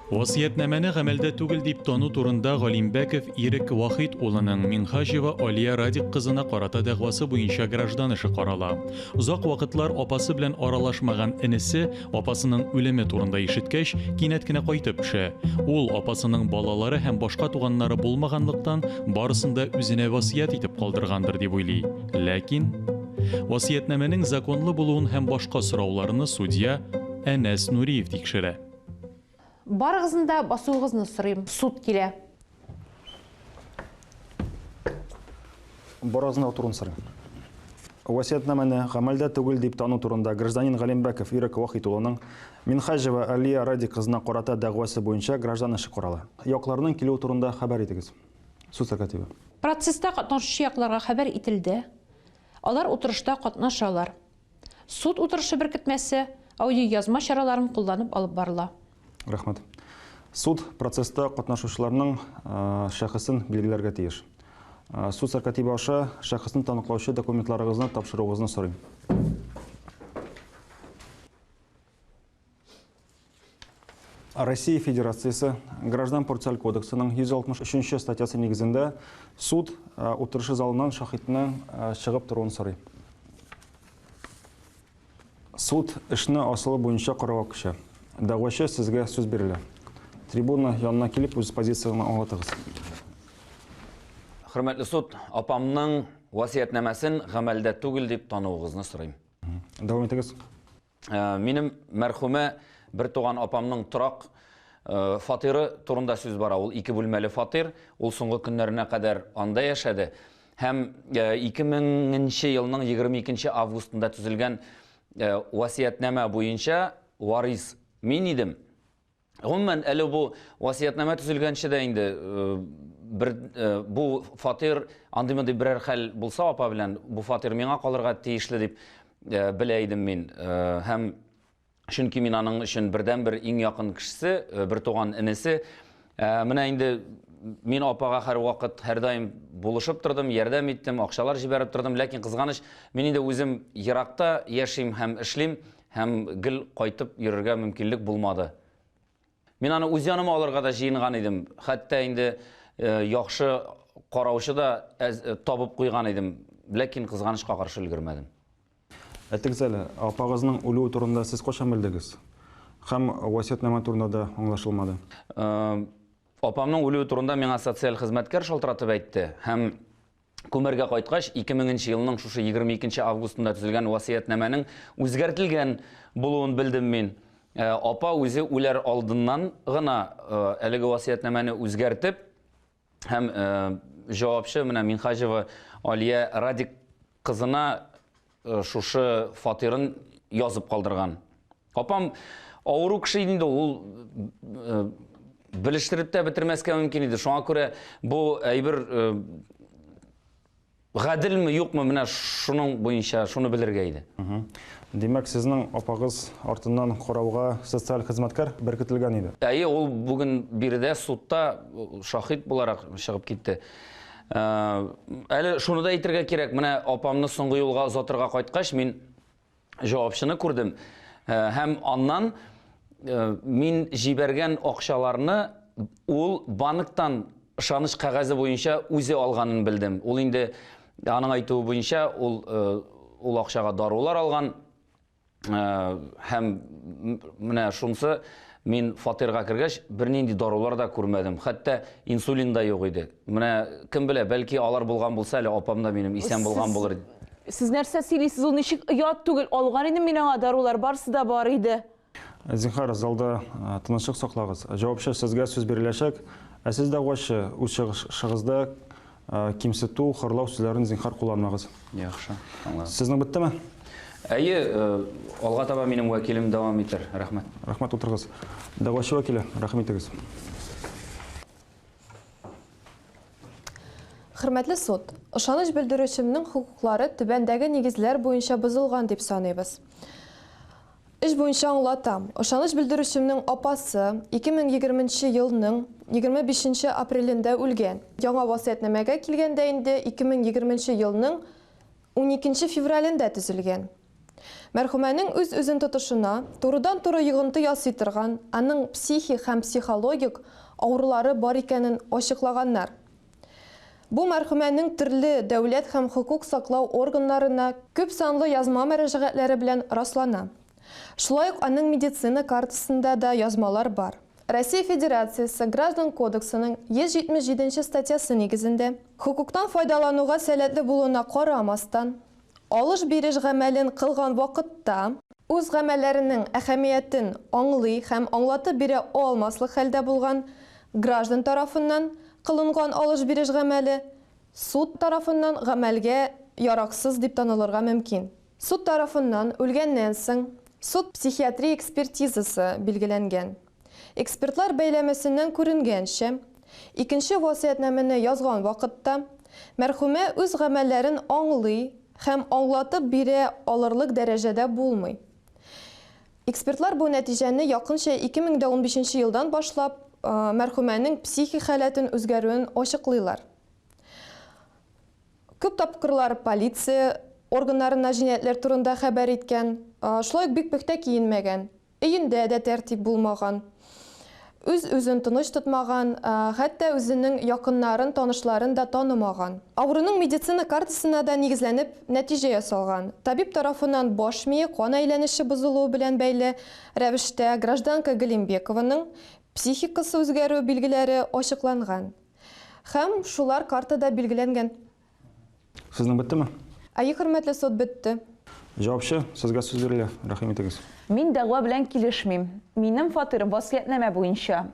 Васыятьнамәне гамәлдә түгел дип тану турында Галимбәков Ирек Вахит улының Минхаҗева Алия Радик кызына карата дәгъвасы буенча граждан эше карала. Озак вакытлар апасы белән аралашмаган энесе Апасының үлеме турында ишеткәч, кинәт кенә кайтып төшә. Ул апасының балалары һәм башка туганнары булмаганлыктан, барысын да үзенә васыять итеп калдыргандыр дип уйлый. Ләкин васыятьнамәнең законлы булуын һәм башка сорауларны судья Әнәс Нуриев тикшерә. Барыгызны да басуыгызны сорыйм. Суд килә. Барыгызны да утыруны сорыйм. Васиятнамәне гамәлдә түгел дип тану турында гражданин Галимбәков Ирек Вахит улының Минхаҗева Алия Радик кызына карата дәгъвасы буенча граждан эше карала. Якларның килүе турында хәбәр итегез. Суд сәркатибе. Процесста катнашучы якларга хәбәр ителде. Алар утырышта катнашалар. Суд утырышы беркетмәсе, аудиоязма чараларын кулланып алып барыла. Рәхмәт. Суд процесста катнашучыларның шәхесен билгеләргә тиеш. Суд сәркатибе аша шәхесне таныклаучы документларыгызны тапшыруыгызны сорыйм. Россия Федерациясе Граждан процессуаль кодексының 163 статьясы нигезендә суд утырышы залыннан шахидның чыгып торуын сорый. Суд эшне асылы буенча карауга күчә. Дәгъвачы сезгә сүз бирелә. Трибуна янына килеп үз позицияне аңлатыгыз. Хөрмәтле суд, апамның васыятьнамәсен гамәлдә түгел дип тануыгызны сорыйм. Дәвам итегез. Минем мәрхүмә бертуган апамның торак фатиры турында сүз бара. Ул ике бүлмәле фатир. Ул соңгы көннәренә кадәр анда яшәде. Һәм 2000 нче елның 22 нче августында төзелгән васыятьнамә буенча варис мин идем. Гомумән, әле бу васыятьнамә төзелгәнче дә инде бер бу фатир андый мондый берәр хәл булса апа белән бу фатир миңа калырга тиешле дип белә идем мин. Һәм чөнки мин аның өчен бердәнбер иң якын кешесе, бертуган энесе. Менә инде мин апага һәрвакыт һәрдаим булышып тордым, ярдәм иттем, акчалар җибәреп тордым, ләкин кызганыч, мин инде үзем еракта яшим һәм эшлим. Һәм гел кайтып йөрергә мөмкинлек булмады. Мин аны үз яныма алырга да җыенган идем. Хәтта инде э, яхшы караучы да э, табып куйган идем. Ләкин кызганычка каршы өлгермәдем. Әйтегез әле, апагызның үлүе турында сез кайчан белдегез? Һәм васиятнама турында да аңлашылмады. Э, апамның үлүе турында миңа социаль хезмәткәр шалтыратып әйтте һәм Күмәргә кайткач, 2000 нче елның шушы 22 нче августында төзелгән васыятьнамәнең үзгәртелгән булуын белдем мин. Э, апа үзе үләр алдыннан гына э, әлеге васыятьнамәне үзгәртеп һәм э, җавапчы менә Минхаҗева Алия Радик кызына Шушы фатирын язып калдырган. Апам авыру кеше иде инде ул белештереп тә бетермәскә мөмкин иде. Шуңа күрә бу әйбер гаделме, юкмы, менә шуның буенча шуны белергә иде. Димәк, сезнең апагыз артыннан карауга социаль хезмәткәр беркетелгән иде? Әйе, ул бүген биредә судта шаһит буларак чыгып китте. Әле шуны да әйтергә кирәк, менә апамны соңгы юлга озатырга кайткач, мин җавапчыны күрдем. Һәм аннан мин җибәргән акчаларны ул банктан ышаныч кәгазе буенча үзе алганын белдем. Ул инде аның әйтүе буенча ул ул акчага дарулар алган. һәм менә шунсы мин фатирга кергәч бернинди дарулар да күрмәдем хәтта инсулин да юк иде менә кем белә бәлки алар булган булса әле апам да минем исән булган булыр сез нәрсә сөйлисез ул ничек оят түгел алган идем мин аңа дарулар барысы да бар иде зинхар залда тынычлык саклагыз җавапчы сезгә сүз биреләчәк ә сез дәгъвачы үз чыгышыгызда кимсету, хорлау сүзләрен зинхар кулланмагыз. Яхшы, аңладым. Сезнең беттеме? Әйе, алга таба минем вәкилем дәвам итәр. Рәхмәт. Рәхмәт, утырыгыз. Дәгъвачы вәкиле, рәхим итегез. Хөрмәтле суд, ышаныч белдерүчемнең хокуклары түбәндәге нигезләр буенча бозылган дип саныйбыз. Эш буенча аңлатам. Ышаныч белдерүчемнең апасы 2020 нче елның 25 нче апрелендә үлгән. Яңа васыятьнамәгә килгәндә инде 2020 нче елның 12 нче февралендә төзелгән. Мәрхүмәнең үз-үзен тотышына, турыдан-туры йогынты ясый торган, аның психик һәм психологик авырулары бар икәнен ачыклаганнар. Бу мәрхүмәнең төрле дәүләт һәм хокук саклау органнарына күп санлы язма мөрәҗәгатьләре белән раслана. Шулай ук аның медицина картасында да язмалар бар. Россия Федерациясе Граждан кодексының 177 нче статьясы нигезендә, хокуктан файдалануга сәләтле булуына карамастан, Алыш-биреш гамәлен кылган вакытта. Үз гамәлләренең әһәмиятен аңлый һәм аңлатып бирә алмаслык хәлдә булган граждан тарафыннан кылынган алыш-биреш гамәле суд тарафыннан гамәлгә яраксыз дип танылырга мөмкин. Суд тарафыннан үлгәннән соң суд-психиатрия экспертизасы билгеләнгән. Экспертлар бәйләмәсеннән күренгәнчә, икенче васыятьнамәне язган вакытта мәрхүмә үз гамәлләрен аңлый һәм аңлатып бирә алырлык дәрәҗәдә булмый. Экспертлар бу нәтиҗәне якынча ике мең дә унбишенче елдан башлап мәрхүмәнең психик халәтен үзгәрүен ачыклыйлар. Күп тапкырлар полиция органнарына җинаятьләр турында хәбәр иткән, шулай ук бик пөхтә киенмәгән. Өендә дә тәртип булмаган. Үз-үзен тыныч тотмаган, хәтта үзенең якыннарын, танышларын да танымаган. Авыруның медицина картасына да нигезләнеп нәтиҗә ясалган. Табиб тарафыннан баш мие кан әйләнеше бозылуы белән бәйле рәвештә гражданка Галимбекованың психикасы үзгәрү билгеләре ачыкланган һәм шулар картада билгеләнгән. Сезнең беттеме? Әйе, хөрмәтле суд, бетте. Җавапчы, сезгә сүз бирелә, рәхим итегез. Мин дәгъва белән килешмим. Минем фатирым васыятьнамә буенча.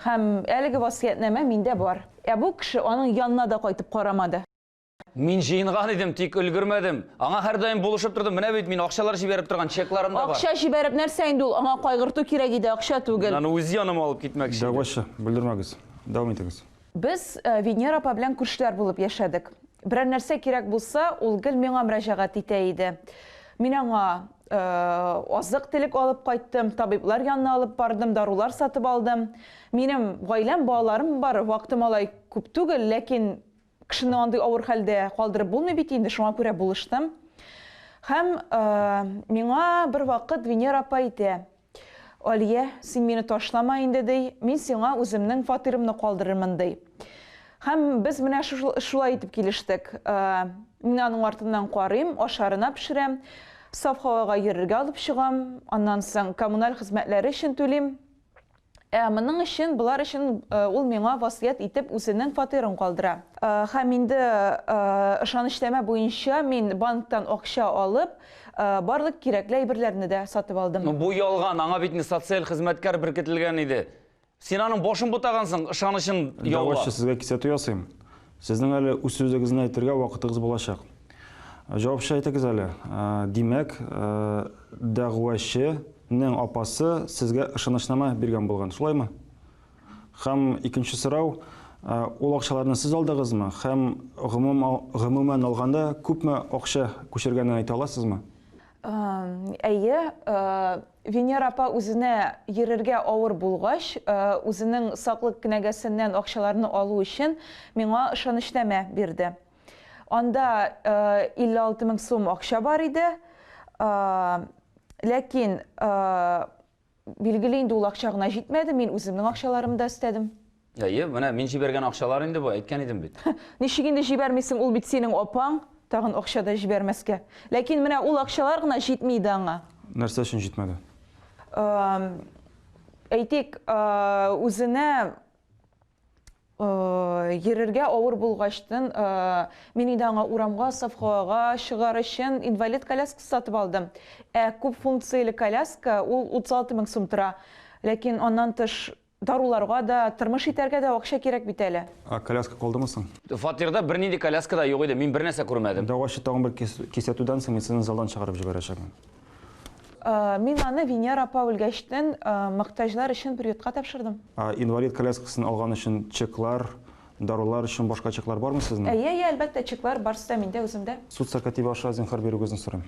Һәм әлеге васыятьнамә миндә бар. Ә бу кеше аның янына да кайтып карамады. Мин җыенган идем, тик өлгермәдем. Аңа һәрдаим булышып тордым. Менә бит, мин акчалар җибәреп торган чекларым да бар. Акча җибәреп нәрсә инде ул? Аңа кайгырту кирәк иде, акча түгел. Мин аны үз яныма алып китмәкче идем. Дәгъвачы, бүлдермәгез. Дәвам итегез. Без Венера апа белән күршеләр булып яшәдек. Берәр нәрсә кирәк булса, ул гел миңа мөрәҗәгать итә иде. Мин аңа азык телек алып кайттым, табиблар янына алып бардым, дарулар сатып алдым. Минем гаиләм, балаларым бар, вакытым алай күп түгел, ләкин кешене андый авыр хәлдә калдырып булмый бит инде, шуңа күрә булыштым. Һәм миңа бер вакыт Венера апа әйтә, Алия, син мине ташлама инде, ди, мин сиңа үземнең фатирымны калдырырмын, ди. Һәм без менә шулай итеп килештек. Мин аның артыннан карыйм, ашарына пешерәм, саф һавага йөрергә алып чыгам, аннан соң коммуналь хезмәтләре өчен түлим. Ә моның өчен, болар өчен ул миңа васыять итеп үзенең фатирын калдыра. Һәм инде ышанычнамә буенча мин банктан акча алып, барлык кирәкле әйберләрне дә сатып алдым. Бу ялган, аңа бит инде социаль хезмәткәр беркетелгән иде. Син аның башын бутагансың, ышанычын яулап. Дәгъвачы, сезгә кисәтү ясыйм. Сезнең әле үз сүзегезне әйтергә вакытыгыз булачак. Җавапчы әйтегез әле. Димәк, дәгъвачы нең апасы сезгә ышанычнама биргән булган, шулаймы? Һәм икенче сорау, ул акчаларны сез алдыгызмы һәм гомумән алганда күпме акча күчергәнен әйтә аласызмы? Әйе, Венера апа үзенә йөрергә авыр булгач, үзенең саклык кенәгәсеннән акчаларны алу өчен миңа ышанычнамә бирде. Анда 56 мең сум акча бар иде. Ләкин, билгеле инде, ул акча гына җитмәде, мин үземнең акчаларымда өстәдем. Әйе, менә мин җибәргән акчалар инде бу, әйткән идем бит. Ничек инде җибәрмисең, ул бит синең апаң, тагын акча да җибәрмәскә. Ләкин менә ул акчалар гына җитми иде аңа. Нәрсә өчен җитмәде? Әйтик, үзенә йөрергә авыр булгачтын, мин инде аңа урамга, совхоага чыгар өчен инвалид коляскасы сатып алдым. Ә күп функцияле коляска, ул 36 мең сум тора. Ләкин аннан тыш Даруларга да, тырмыш итәргә дә акча кирәк бит әле. Ә коляска калдымы соң? Фатирда бернинди коляска да юк иде, мин бернәрсә күрмәдем. Дәгъвачы тагын бер кисәтүдән соң мин сезне залдан чыгарып җибәрәчәкмен. Мин аны Венера апа үлгәчтен мохтаҗлар өчен приютка тапшырдым. Ә инвалид коляскасын алган өчен чеклар, дарулар өчен башка чеклар бармы сезнең? Әйе, әйе, әлбәттә, чеклар барсы да миндә, үземдә. Суд сәркатибе аша зинһар бирүегезне сорыйм.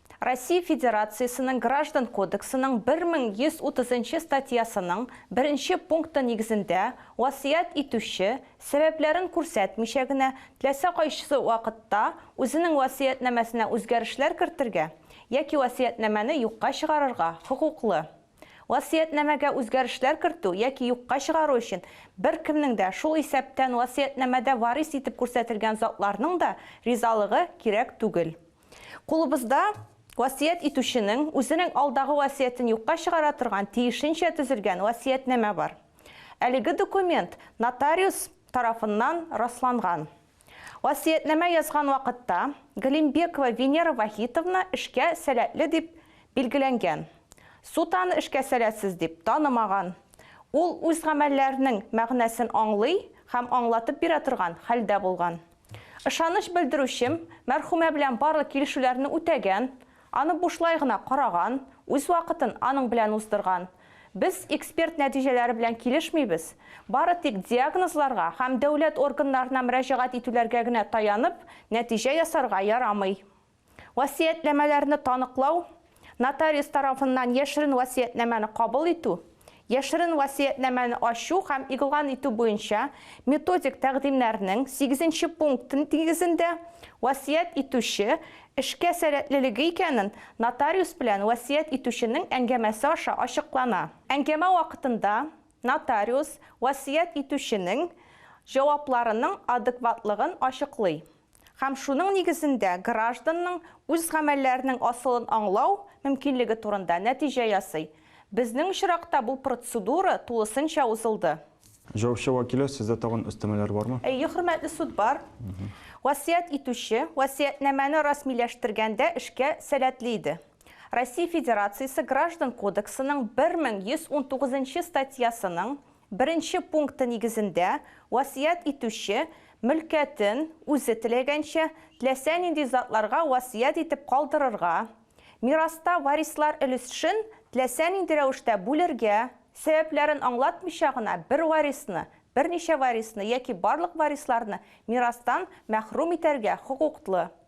Россия Федерациясенең Граждан кодексының 1130 нчы статьясының беренче пункты нигезендә васыять итүче, сәбәпләрен күрсәтмичә генә, теләсә кайсы вакытта үзенең васыятьнамәсенә үзгәрешләр кертергә яки васыятьнамәне юкка чыгарырга хокуклы. Васыятьнамәгә үзгәрешләр кертү яки юкка чыгару өчен беркемнең дә, шул исәптән васыятьнамәдә варис итеп күрсәтелгән затларның да ризалыгы кирәк түгел. Кулыбызда васыять итүченең үзенең алдагы васыятен юкка чыгара торган тиешенчә төзелгән васыятьнамә бар. Әлеге документ нотариус тарафыннан расланган. Васыятьнамә язган вакытта Галимбекова Венера Вахитовна эшкә сәләтле дип билгеләнгән. Суд аны эшкә сәләтсез дип танымаган. Ул үз гамәлләренең мәгънәсен аңлый һәм аңлатып бирә торган хәлдә булган. Ышаныч белдерүчем, мәрхүмә белән барлык килешүләрне үтәгән, аны бушлай гына караган, үз вакытын аның белән уздырган. Без эксперт нәтиҗәләре белән килешмибез, бары тик диагнозларга һәм дәүләт органнарына мөрәҗәгать итүләргә генә таянып, нәтиҗә ясарга ярамый. Васыятьнамәләрне таныклау, нотариус тарафыннан яшерен васыятьнамәне кабул итү, яшерен васыятьнамәне ачу һәм игълан итү буенча методик тәкъдимнәрнең сигезенче пункты нигезендә васыять итүче эшкә сәләтлелеге икәнен нотариус белән васыять итүченең әңгәмәсе аша ачыклана. Әңгәмә вакытында нотариус васыять итүченең җавапларының адекватлыгын ачыклый. һәм шуның нигезендә гражданның үз гамәлләренең асылын аңлау мөмкинлеге турында нәтиҗә ясый. Безнең очракта бу процедура тулысынча узылды. Җаваплы вәкиле, сездә тагын өстәмәләр бармы? Әйе, хөрмәтле суд, бар. Васыять итүче васыятьнамәне расмиләштергәндә эшкә сәләтле иде. Россия Федерациясе Граждан кодексының 1119 нчы статьясының Беренче пункты нигезендә, васыять итүче, мөлкәтен, үзе теләгәнчә, теләсә нинди затларга васыять итеп калдырырга, мираста варислар өлешшн теләсә нинди рәвештә бүлергә, сәбәпләрен аңлатмыйча гына бер варисны, берничә варисны яки барлык варисларны мирастан мәхрүм итәргә хокуклы.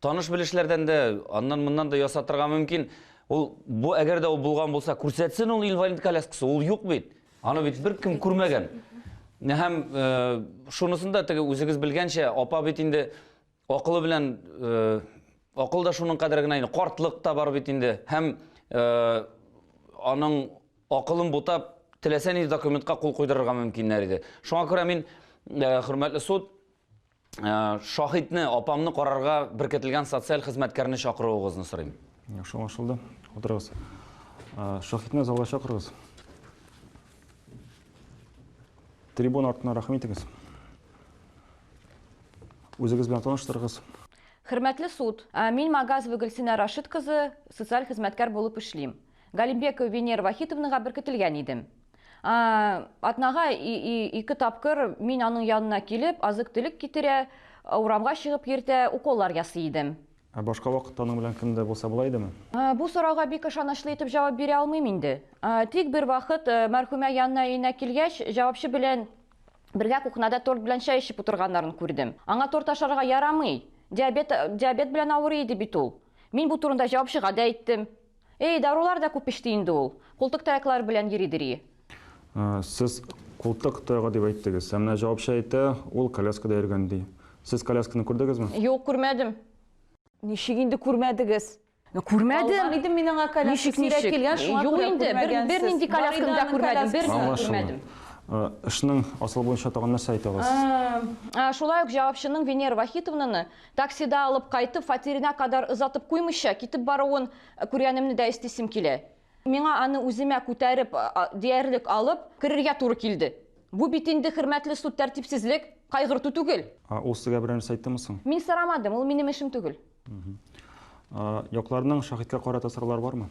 Таныш-белешләрдән дә, аннан-моннан да ясатырга мөмкин. Ул бу әгәр дә ул булган булса, күрсәтсен ул инвалид коляскасы, ул юк бит. Аны бит беркем күрмәгән. Һәм э, шунысын да теге үзегез белгәнчә, апа бит инде акылы белән э, акыл да шуның кадәр генә инде, картлык та бар бит инде. Һәм э, аның акылын бутап, теләсә нинди документка кул куйдырырга мөмкиннәр иде. Шуңа күрә мин, хөрмәтле суд, Э, шаһитне апамны карарга беркетелгән социаль хезмәткәрне чакыруыгызны сорыйм яхшы аңлашылды утырыгыз э, шаһитны залга чакырыгыз трибун артына рәхим итегез үзегез белән таныштырыгыз хөрмәтле суд э, мин магазова гөлсинә рашид кызы социаль хезмәткәр булып эшлим галимбекова венера вахитовнага беркетелгән идем Атнага ике тапкыр мин аның янына килеп, азык-төлек китерә, урамга чыгып йөртә, уколлар ясый идем. Ә башка вакытта аның белән кем дә булса була идеме? Бу сорауга бик ышанычлы итеп җавап бирә алмыйм инде. Тик бер вакыт мәрхүмә янына өенә килгәч, җавапчы белән бергә кухняда торт белән чәй эчеп утырганнарын күрдем. Аңа торт ашарга ярамый, диабет белән авырый иде бит ул. Мин бу турында җавапчыга да әйттем. Эй, дарулар да күп эчте инде ул. Култык таяклар белән йөридер и. Сез култык таягы дип әйттегез. Ә менә җавапчы әйтә, ул коляскада йөргән ди. Сез колясканы күрдегезме? Юк, күрмәдем. Ничек инде күрмәдегез? Күрмәдем. Алган идем мин аңа коляска. Ничек, ничек? Сирәк килгән, шуңа Юк күрә инде, бер, күрмәгәнсез. бернинди колясканы да күрмәдем, берни дә Аңлашылды. күрмәдем. Эшнең асылы буенча тагын нәрсә әйтә аласыз? Шулай ук җавапчының Венера Вахитовнаны Таксида алып кайтып, фатирына кадәр озатып куймыйча, китеп баруын күргәнемне дә эстисем килә. Миңа аны үземә күтәреп, диярлек алып, керергә туры килде. Бу бит инде, хөрмәтле суд, тәртипсезлек, кайгырту түгел. А ул сезгә берәр нәрсә әйттеме соң? Мин сорамадым, ул минем эшем түгел. Якларның шаһиткә карата сораулары бармы?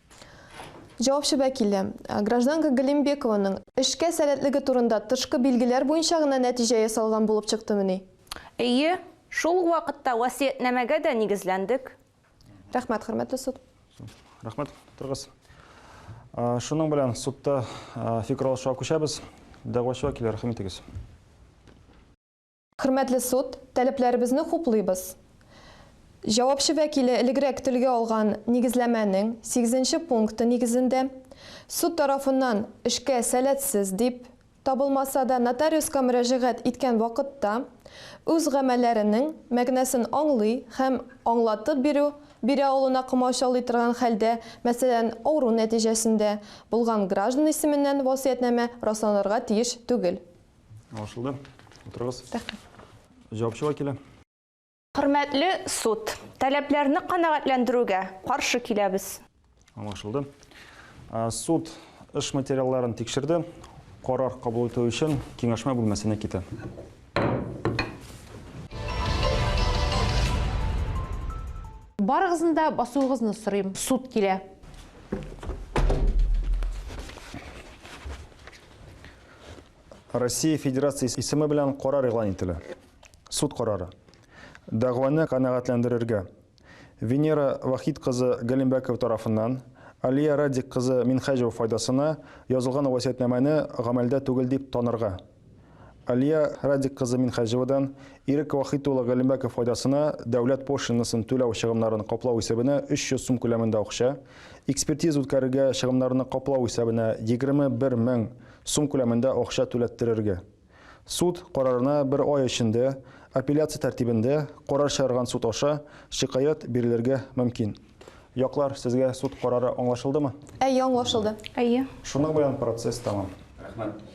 Җавапчы вәкиле, гражданка Галимбекованың эшкә сәләтлеге турында тышкы билгеләр буенча гына нәтиҗә ясалган булып чыктымыни? Әйе, шул ук вакытта васыятьнамәгә дә нигезләндек. Рәхмәт, хөрмәтле суд. Рәхмәт, утырыгыз. Шуның белән судта фикер алышуга күчәбез. Дәгъвачы вәкиле, рәхим итегез. Хөрмәтле суд, таләпләребезне хуплыйбыз. Җавапчы вәкиле элегрәк телгә алган нигезләмәнең сигезенче пункты нигезендә, суд тарафыннан эшкә сәләтсез дип табылмаса да, нотариуска мөрәҗәгать иткән вакытта үз гамәлләренең мәгънәсен аңлый һәм аңлатып бирү бирә алуына комачаулый торган хәлдә, мәсәлән, авыру нәтиҗәсендә, булган граждан исеменнән васыятьнамә расланырга тиеш түгел. Аңлашылды. Утырыгыз. Рәхмәт. Җавапчыга килә. Хөрмәтле суд, таләпләрне канәгатьләндерүгә каршы киләбез. Аңлашылды. Суд эш материалларын тикшерде. Карар кабул итү өчен киңәшмә бүлмәсенә китә. Барыгызны да басуыгызны сорыйм. Суд килә. Россия Федерациясе исеме белән карар игълан ителә. Суд карары. Дәгъваны канәгатьләндерергә. Венера Вахид кызы Галимбәкова тарафыннан Алия Радик кызы Минхәҗева файдасына язылган васиятнамәне гамәлдә түгел дип танырга. Алия Радик кызы Минхәҗевадан Ирек Вахид улы Галимбәков файдасына дәүләт пошлинасын түләү чыгымнарын каплау исәбенә 300 сум күләмендә акча, Экспертиза үткәрергә чыгымнарны каплау исәбенә 21 мең сум күләмендә акча түләттерергә. Суд карарына бер ай эчендә апелляция тәртибендә карар чыгарган суд аша шикаять бирелергә мөмкин. Яклар, сезгә суд карары аңлашылдымы? Әйе, аңлашылды. Әйе. Шуның белән процесс тәмам. Рәхмәт.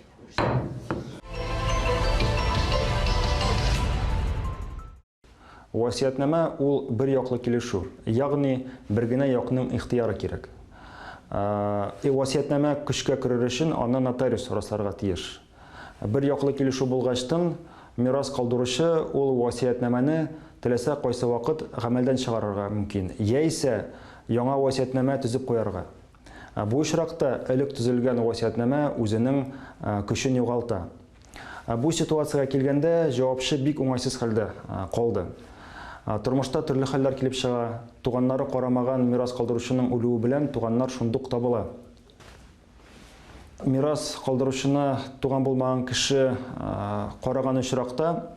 Васыятьнамә ул бер яклы килешү, ягъни бер генә якның ихтыяры кирәк. Ә васыятьнамә көчкә керер өчен аны нотариус расларга тиеш. Бер яклы килешү булгачтын, мирас калдыручы ул васыятьнамәне теләсә кайсы вакыт гамәлдән чыгарырга мөмкин яисә яңа васыятьнамә төзеп куярга. Ә бу очракта элек төзелгән васиятнамә үзенең көчен югалта. Ә бу ситуациягә килгәндә җавапчы бик уңайсыз хәлдә калды. Тормышта төрле хәлләр килеп чыга, туганнары карамаган мирас калдыручының үлүе белән туганнар шундук табыла. Мирас калдыручына туган булмаган кеше караган очракта,